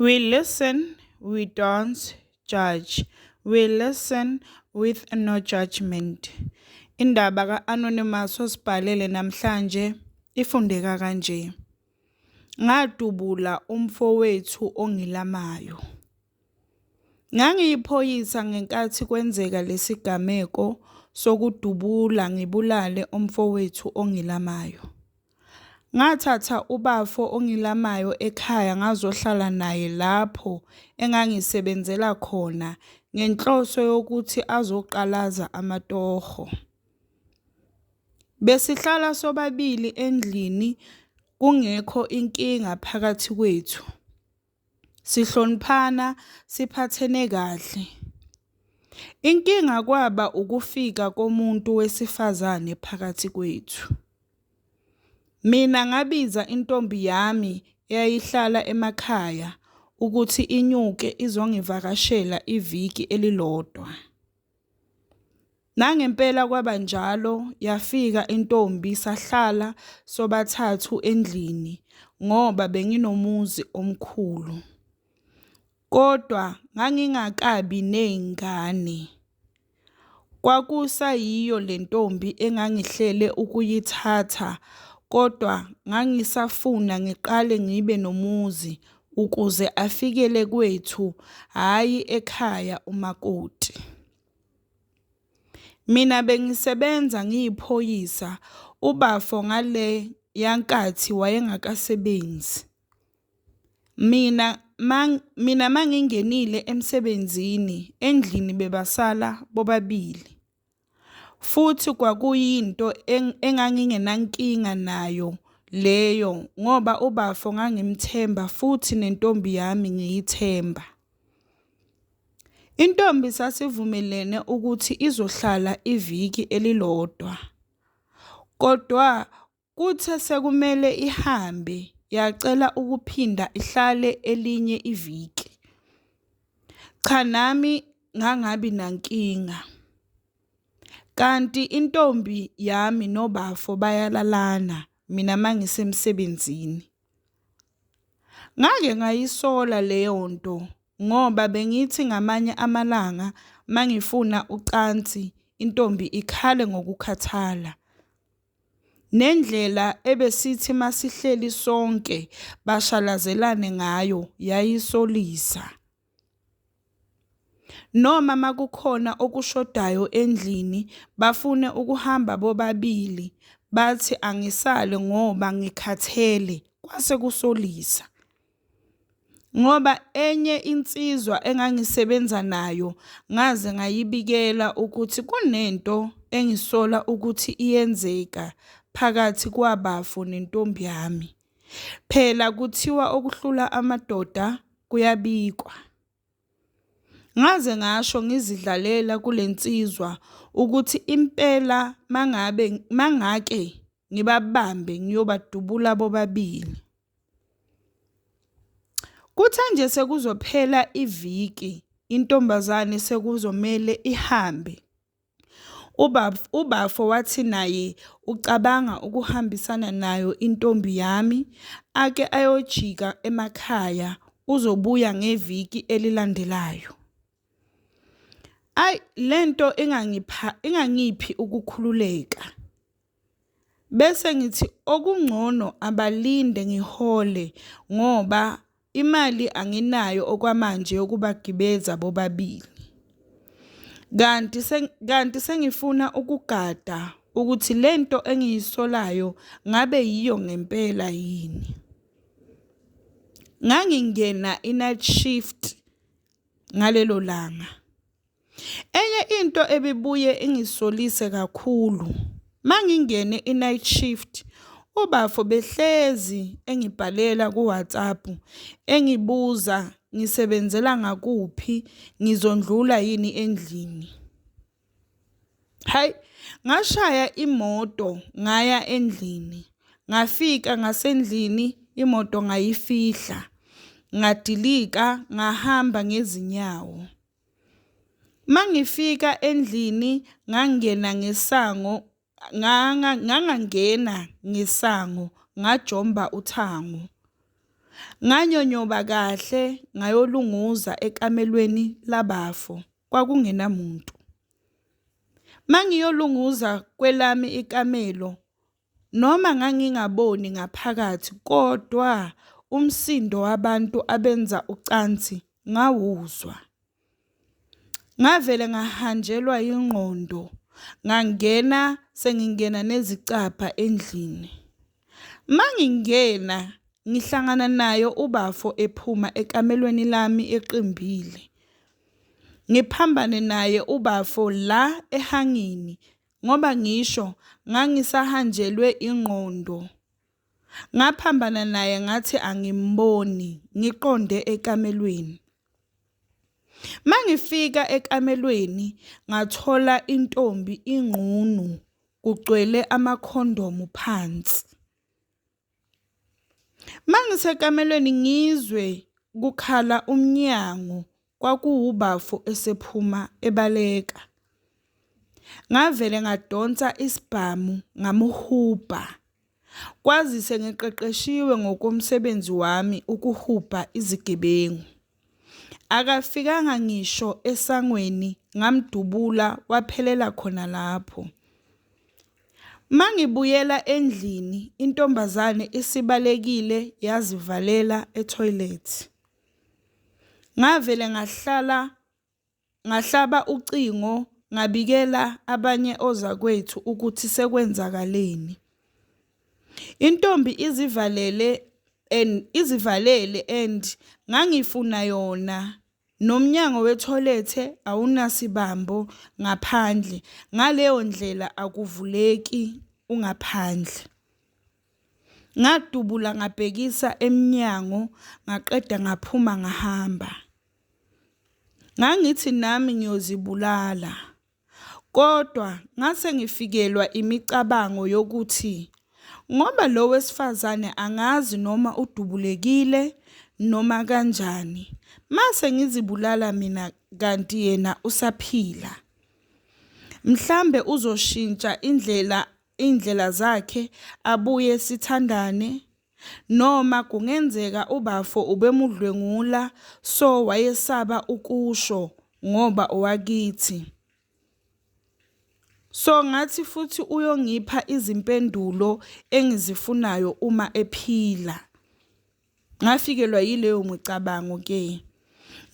We listen, we don't judge. We listen with no judgment. Indaba ka-Anonymous osibhalele namhlanje ifundeka kanje. Ngadubula umfowethu ongilamayo. Ngangiyiphoyisa ngenkathi kwenzeka lesigameko sokudubula ngibulale umfowethu ongilamayo. Ngathatha ubafo ongilamayo ekhaya ngazohlala naye lapho engangisebenzela khona ngenhloso yokuthi azoqalaza amatoho. Besihlala sobabili endlini kungekho inkinga phakathi kwethu. sihloniphana siphathene kahle. Inkinga kwaba ukufika komuntu wesifazane phakathi kwethu. Mina ngabiza intombi yami eyayihlala emakhaya ukuthi inyuke izongivakashela iviki elilodwa. Nangempela kwaba njalo, yafika intombi sahlala sobathathu endlini ngoba benginomuzi omkhulu. Kodwa ngangingakabi nezingane. Kwakusayiyo lentombi engangihlele ukuyithatha kodwa ngangisafuna ngiqale ngibe nomuzi ukuze afikele kwethu hhayi ekhaya umakoti. Mina bengisebenza ngiyiphoyisa, ubafo ngaleya nkathi wayengakasebenzi. Mina mina uma ngingenile emsebenzini endlini bebasala bobabili futhi kwakuyinto engangingenankinga nayo leyo ngoba ubafo ngangimthemba futhi nentombi yami ngiyithemba. Intombi sasivumelene ukuthi izohlala iviki elilodwa kodwa kuthe sekumele ihambe yacela ukuphinda ihlale elinye iviki. Cha nami ngangabi nankinga kanti intombi yami nobafo bayalalana mina mangisemsebenzini. Ngake ngayisola leyo nto ngoba bengithi ngamanye amalanga uma ngifuna ucansi intombi ikhale ngokukhathala. Nendlela ebesithi uma sihleli sonke bashalazelane ngayo yayisolisa. Noma uma kukhona okushodayo endlini bafune ukuhamba bobabili, bathi angisale ngoba ngikhathele, kwase kusolisa. Ngoba enye insizwa engangisebenza nayo ngaze ngayibikela ukuthi kunento engisola ukuthi iyenzeka phakathi kwabafo nentombi yami. Phela kuthiwa okuhlula amadoda kuyabikwa. Ngaze ngasho ngizidlalela kule nsizwa ukuthi impela mangabe mangake ngibabambe ngiyobadubula bobabili. Kuthe nje sekuzophela iviki intombazane sekuzomele ihambe. Ubaf, ubafo wathi naye ucabanga ukuhambisana nayo intombi yami ake ayojika emakhaya uzobuya ngeviki elilandelayo. Ay lento ingangipha ingangiphi ukukhululeka. Bese ngithi okungcono abalinde ngihole ngoba Imali anginayo okwamanje yokubagibeza bobabili. Kanti se kanti sengifuna ukugada ukuthi lento engiyisolayo ngabe yiyo ngempela yini. Ngangingena i-night shift ngalelo langa. Enye into ebibuye ingisolise kakhulu mangingene i-night shift ubafo behlezi engibhalela ku-WhatsApp engibuza ngisebenzela ngakuphi, ngizondlula yini endlini. Hhayi ngashaya imoto ngaya endlini, ngafika ngasendlini imoto ngayifihla, ngadilika ngahamba ngezinyawo. Mangifika endlini ngangena ngesango ngangangena ngesango ngajomba uthango. Nganyonyoba kahle ngayolunguza ekamelweni labafo kwakungenamuntu. Mangiyolunguza kwelami ikamelo Noma ngangingaboni ngaphakathi kodwa umsindo wabantu abenza ucansi ngawuzwa. Ngavele ngahanjelwa yingqondo, ngangena sengingena nezicabha endlini. Mangingena ngihlangana nayo ubafo ephuma ekamelweni lami eqimbile. Ngiphambane naye ubafo la ehangini ngoba ngisho ngangisahanjelwe ingqondo. Ngaphambana naye ngathi angimboni, ngiqonde ekamelweni. Mangifika ekamelweni ngathola intombi ingqunu kugcwele amakhondomu phansi. Mangisekamelweni ngizwe kukhala umnyango kwakuwubafo esephuma ebaleka. Ngavele ngadonsa isibhamu ngamhubha kwazise ngiqeqeshiwe ngokomsebenzi wami ukuhubha izigebengu. Akafikanga ngisho esangweni ngamdubula waphelela khona lapho. Mangibuyela endlini intombazane isibalekile yazivalela ethoyilethi. Ngavele ngahlala Ngahlaba ucingo ngabikela abanye ozakwethu ukuthi sekwenzakaleni. Intombi izivalele and izivalele and ngangifuna yona nomnyango wetholethe awunasibambo ngaphandle, ngaleyo ndlela akuvuleki ungaphandle. Ngadubula ngabhekisa emnyango ngaqeda ngaphuma ngahamba. Ngangithi nami ngiyozibulala, kodwa ngase ngifikelwa imicabango yokuthi ngoba lo wesifazane angazi noma udubulekile noma kanjani, mase ngizibulala mina kanti yena usaphila. Mhlambe uzoshintsha indlela iy'ndlela zakhe abuye sithandane. Noma kungenzeka ubafo ubemudlwengula so wayesaba ukusho ngoba owakithi. So ngathi futhi uyongipha izimpendulo engizifunayo uma ephila. Ngafikelwa yileyo micabango ke.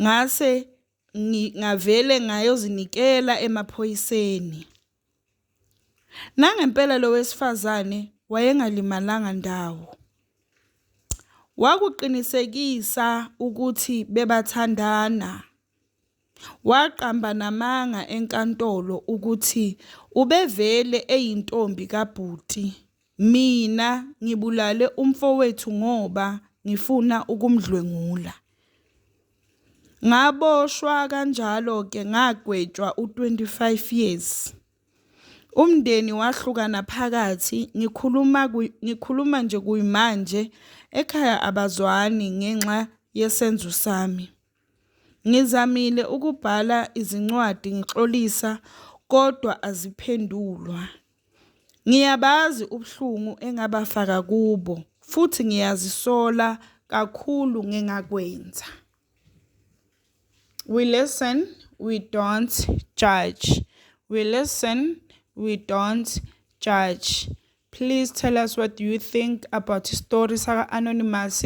Ngase ngavele ngayozinikela emaphoyiseni. Nangempela lo wesifazane wayengalimalanga ndawo. Wakuqinisekisa ukuthi bebathandana. Waqamba namanga enkantolo ukuthi ubevele eyintombi kabhuti. Mina ngibulale umfowethu ngoba ngifuna ukumdlwengula. Ngaboshwa kanjalo ke ngagwetshwa u25 years. Umndeni wahlukana phakathi ngikhuluma ngikhuluma nje kuyimanje ekhaya abazwani ngenxa yesenzo sami. Ngizamile ukubhala izincwadi ngixolisa kodwa aziphendulwa. Ngiyabazi ubuhlungu engabafaka kubo futhi ngiyazisola kakhulu ngengakwenza. We listen, we don't judge. We listen, we don't judge. Please tell us what do you think about story saka-anonymous.